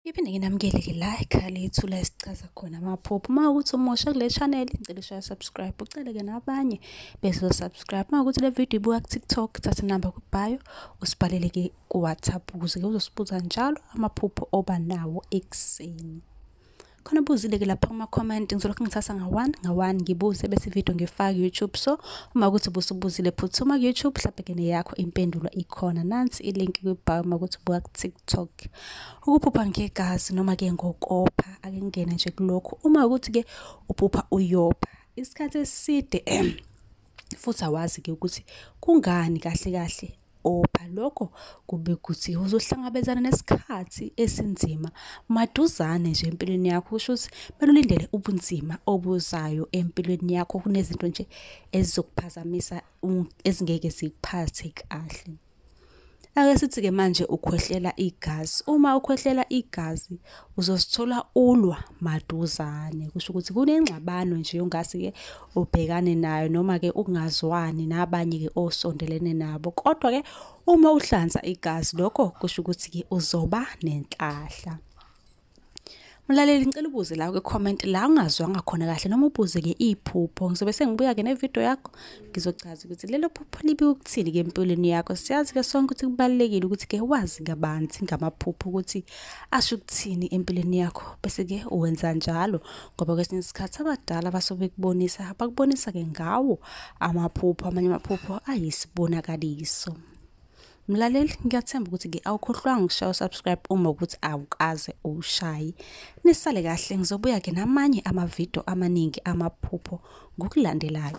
Ngiphinde nginamukele-ke la ekhaya lethu la esichaza khona amaphupho. Uma ukuthi umusha kule channel ngicela ushaya subscribe, uceleke nabanye bezo-subscribe. Uma ukuthi le video ibuka ku-TikTok, thatha inamba kubhayo, usibhalele-ke ku-WhatsApp ukuze-ke uzosibuza njalo amaphupho oba nawo ekuseni. Khona ubuzile-ke lapha kuma-comment ngizolokhu ngithatha nga-one nga-one ngibuze bese ividiyo ngifake ku-YouTube. So uma ukuthi ubusubuzile phuthuma ku-YouTube mhlampe-ke neyakho impendulo ikhona. Nansi ilink kwibhayo uma ukuthi ubuka ku-TikTok. ukuphupha ngegazi noma ke ngokopha ake ngene nje kulokho uma ukuthi ke uphupha uyopha isikhathi eside futhi awazi ke ukuthi kungani kahle kahle opha lokho kube ukuthi uzohlangabezana nesikhathi esinzima maduzane nje empilweni yakho kusho ukuthi kumele ulindele ubunzima obuzayo empilweni yakho kunezinto nje ezizokuphazamisa ezingeke zikuphathe kahle Ake sithi-ke manje ukhwehlela igazi. Uma ukhwehlela igazi uzosithola ulwa maduzane. Kusho ukuthi kunengxabano nje ongase-ke ubhekane nayo noma-ke ukungazwani nabanye-ke osondelene nabo. Kodwa-ke uma uhlanza igazi lokho kusho ukuthi-ke uzoba nenhlahla. Mlaleli ngicela ubuze la kwi comment la ungazwanga khona kahle noma ubuze ke iphupho ngizobe sengibuya ke ne video yakho ngizochaza ukuthi lelo phupho libi ukuthini ke empilweni yakho siyazi ke sonke ukuthi kubalekile ukuthi ke wazi kabanzi ngamaphupho ukuthi asho ukuthini empilweni yakho bese ke uwenza njalo ngoba kwesinye isikhathi abadala basobe kubonisa bakubonisa ke ngawo amaphupho amanye amaphupho ayisibonakaliso Mlaleli ngiyathemba ukuthi ke awukhohlwanga ukushaya usubscribe uma ukuthi awukaze ushaye. Nisale kahle ngizobuya ke namanye amavideo amaningi amaphupho ngokulandelayo.